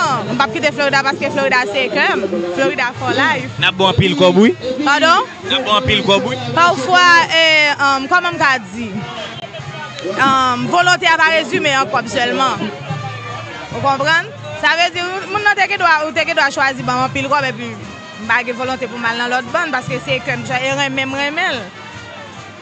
Nan, m pap kite Florida paske Florida se kè m. Florida for life. Nap bon anpil kòb wi. Pardon? Nap bon anpil kòb wi. Pafwa e um kòman m ka di um volonte a pa rezime an kòb sèlman. Ou konprann? Sa vle di moun nan te gendwa ou te gendwa chwazi banm anpil kòb epi m pa gen volonte pou m al nan lòt bann paske se kè m e renmen m renmen l.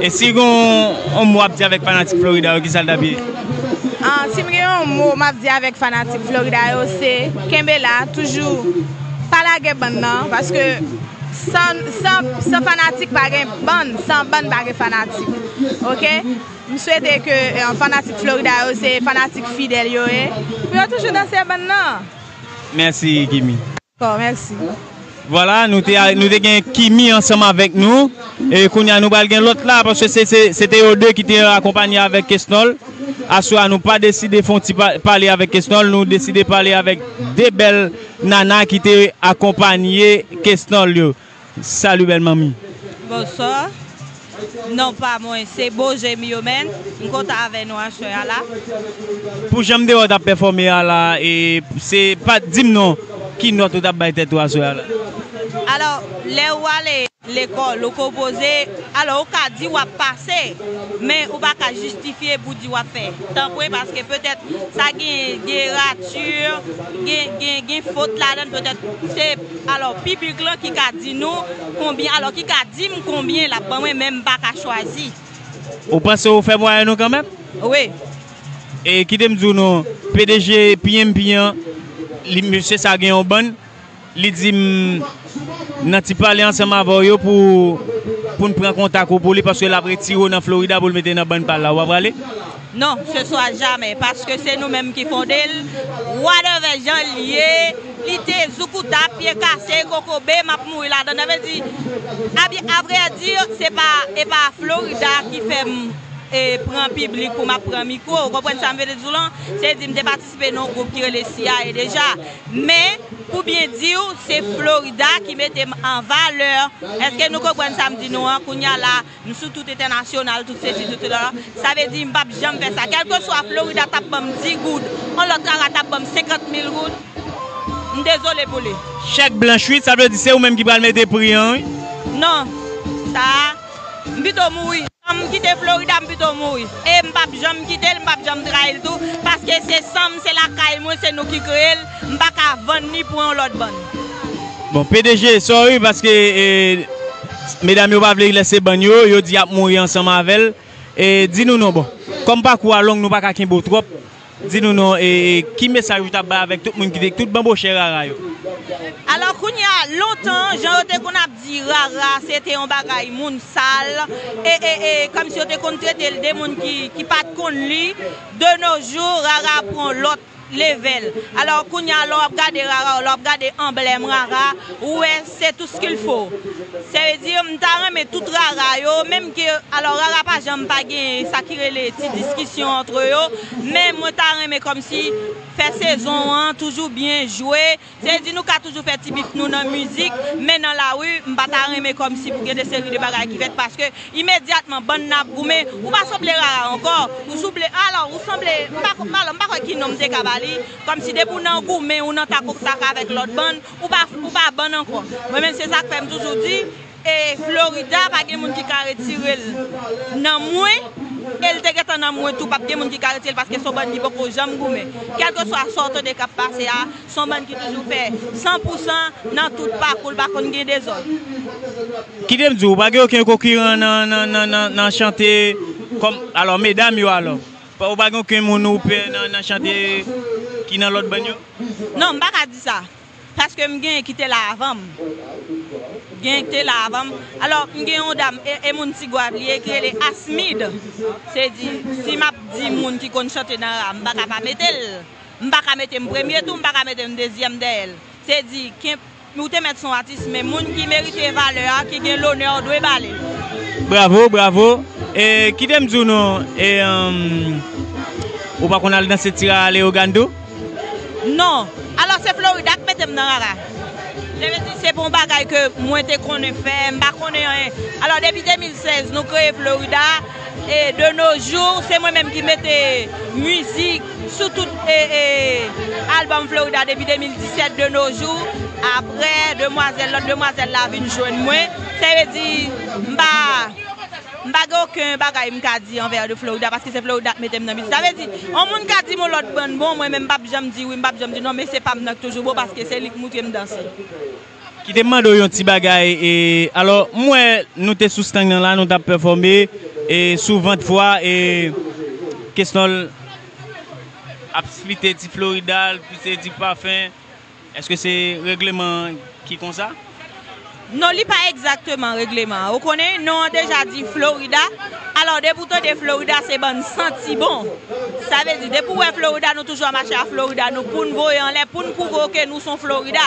E si gen yon mo wap di avèk fanatik Florida yo kisal tap ye? Ahh sim gen yon mo map di avèk fanatik Florida yo se kenbe la toujou pa lage bann nan paske san fanatik pa gen bann san bann pa gen fanatik ok m swete ke fanatik Florida yo se fanatik fidèl yo ye pou yo toujou danse bann nan. Mèsi Gimi. Bon merci. Voilà nou te nou te gen Kimi ansanm avèk nou e kounye a nou pral gen lòt la paske se se se te yo 2 ki te akonpanye avèk Kesnòl aswè a nou pa deside fon ti pale avèk Kesnòl nou deside pale avèk 2 bèl nana ki te akonpanye Kesnòl yo. Salut belle manmi. Bonsoir non pa mwen se bo je m yo menn m kontan avè nou aswè a la. Pou janm dewa tap pèfòme a la e se pa dim non ki nòt ou tap bay tèt ou aswè a la. Alò lè ou ale lekòl ou konpoze alò ou ka di wap pase men ou pa ka jistifye pou di wap fè tanpwen paske petèt sa gen gen rature gen gen fot ladann petèt se Alò piblik lan ki ka di nou konbyen alò ki ka dim konbyen lap ban mwen menm pa ka chwazi. Ou panse ou fè mwayenn ou kanmenm? Wi. E kite m di w non, pdg PMP an, li mesye sa gen yon bann, li di m nan ti pale ansanm avè w yo pou pou n pran kontak ou pou li paske l ap retire w nan Florida pou l mete nan bann pa l la. Ou pa prale? Non, se swa jamè, paske se nou menm ki fonde l, wadèvè jan l ye, li te zoukuta, pye kase, kokobe, m ap mouri ladan l. Sa vle di, abyen, avrèdi, se pa, e pa Florida ki fè m pran piblik pou m ap pran mikwo. Ou konprann sa m vle di w lan? Se di m te patisipe nan yon gwoup ki rele siyaye deja. Men, pou byen di w, se Florida ki mete m an valè. Èske nou konprann sa m di nou an? Kounye a la. M sou tout entènasyonal, tout sesi, tout sela. Sa vle di m pap janm fè sa. Kèlkeswa Florida t ap ban m di goud, yon lòt rara t ap ban m senkant mil goud, m dezole pou li. Chèk blanch wi, sa vle di se ou menm ki pral mete pri an wi. Non. Sa a, m pito mouri. San m kite Florida, m pito mouri. E m pap janm kite l, m pap janm trayi l tou. Paske se san m, se lakay mwen, se nou ki kreye l. M pa ka vann ni pou yon lòt bann. Bon pdg sorry paske medam yo pa vle lèse bann yo, yo di yap mouri ansanm avèl e di nou non bon kòm pakou a long nou paka kenbe w twòp di nou non e ki mesaj ou tap bay avèk tout moun ki te tout banbochè rara yo. Alò kounya lontan jan yo te konn ap di rara se te yon bagay moun sal e e e kòmsi yo te konn tretel de moun ki pat konn li de no jou rara pran lòt level alors kounya lè wap gade rara ou lè wap gade anblèm rara ou wè se tout ce qu'il faut se vle di m ta renmen tout rara yo menm ke alors rara pa janm pa gen sa ki rele ti diskisyon antre yo men mwen ta renmen kòmsi fè sezon an toujou byen jwe. Te di nou ka toujou fè ti bit nou nan mizik, men nan lari, m pa ta renmen kòmsi pou gen de seri de bagay ki fèt paske imedyatman bann nan ap goumen, ou pa sanble Rara ankò, ou souble, alò ou sanble, m pa ko, alò m pa kwè ki non m te ka ba li, kòmsi depi w nan goumen, ou nan tak ok tak avèk lòt bann, ou pa, ou pa bann ankò. Mwen menm se sa k fè m toujou di. E Florida pa gen moun ki ka retirel nan mwen el te gentan nan mwen tou pap gen moun ki ka retirel paske son bann ki poko janm goumen kelke swa sa w tande kap pase a son bann ki toujou fè san pou san nan tout pakou l pa konn gen dezòd. Kite m di w ou pa gen oken konkiran nan chante kòm alò medam yo alò ou pa gen oken moun ou pè nan chante ki nan lòt bann yo? Non m pa ka di sa. Paske m genyen ki te la avan m. Genyen ki te la avan m. Alò, m gen yon dam, e moun Ti Gwav li ye, ki rele Asmid. Se di, si m ap di moun ki konn chante nan ra, m pa ka pa mete l. M pa ka mete m premye tou, m pa ka mete m dezyèm dèyè l. Se di, ou te mèt se yon atis, men moun ki merite valè a, ki gen lonè a, ou dwe ba li l. Bravo, bravo. E, kite m di w nou, e, ou pa konn al danse Tira Leyogann tou? Non. Alò se Florida k mete m nan rara. Vle ve di se pa yon bagay ke mwen te konnen fè, m pa konnen anyen. Alò depi 2016 nou kreye Florida e de no jou se mwen menm ki mete mizik sou tout album Florida depi 2017 de no jou. Aprè demwazèl, lòt demwazèl la vin jwenn mwen. Sa ve di m pa. M pa gen oken bagay m ka di anvè de Florida paske se Florida k mete m nan mizik sa vle di on moun ka di m on lòt bann bon mwen menm m pap janm di wi m pap janm di non mesye pa m nan k toujou bon paske se li k moutre m danse. Kite m mande w yon ti bagay e alò m wè nou te sou stang nan la nou t ap pèfòme e sou vant vwa e Kesnòl ap splite ti Florida l pwese ti pafen. Eske se regleman an ki konsa? Non li pa egzakteman regleman an ou konnen non an deja di Florida alò depi ou tande Florida se bann santi bon sa vle di depi ou wè Florida nou toujou ap mache a Florida nou poun voye anlè poun pwouve w ke nou son Florida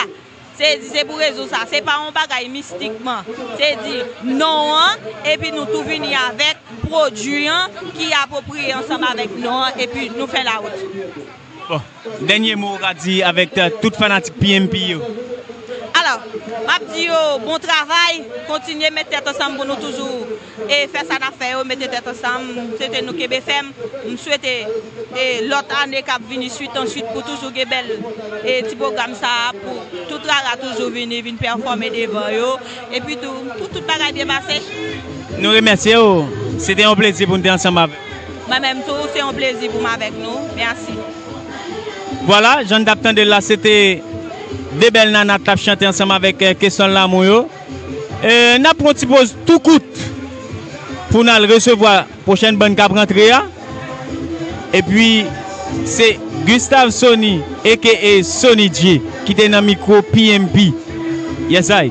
se di se pou rezon sa se pa yon bagay mistikman se di non an epi nou tou vini avèk pwodui an ki apwopriye ansanm avèk non an epi nou fè lawout. Bon, dènye mo ou ka di avèk tout fanatik PMP yo? Alò, m ap di yo bon travay, kontinye met tèt ansanm pou nou toujou fè sa n ap fè yo, mete tèt ansanm, m swete nou kenbe fèm, m swete lòt ane k ap vini swit an swit pou toujou gen bèl ti pwogram sa a, pou tout rara toujou vini, vin pèfòme devan yo, epitou pou tout bagay byen pase. Nou remèsye ou, se te yon plezi pou nou te ansanm avè w. Mwen menm tou se yon plezi pou m avèk nou. Mèsi. Vwala, jan n t ap tande l la, se te 2 bèl nana k t ap chante ansanm avèk Kesyon Lanmou yo. N ap pran yon ti poz tou kout pou n al resevwa pwochèn bann k ap rantre a. Epi, se Gustave Sony aka Sony J ki te nan mikwo PMP. Yesay!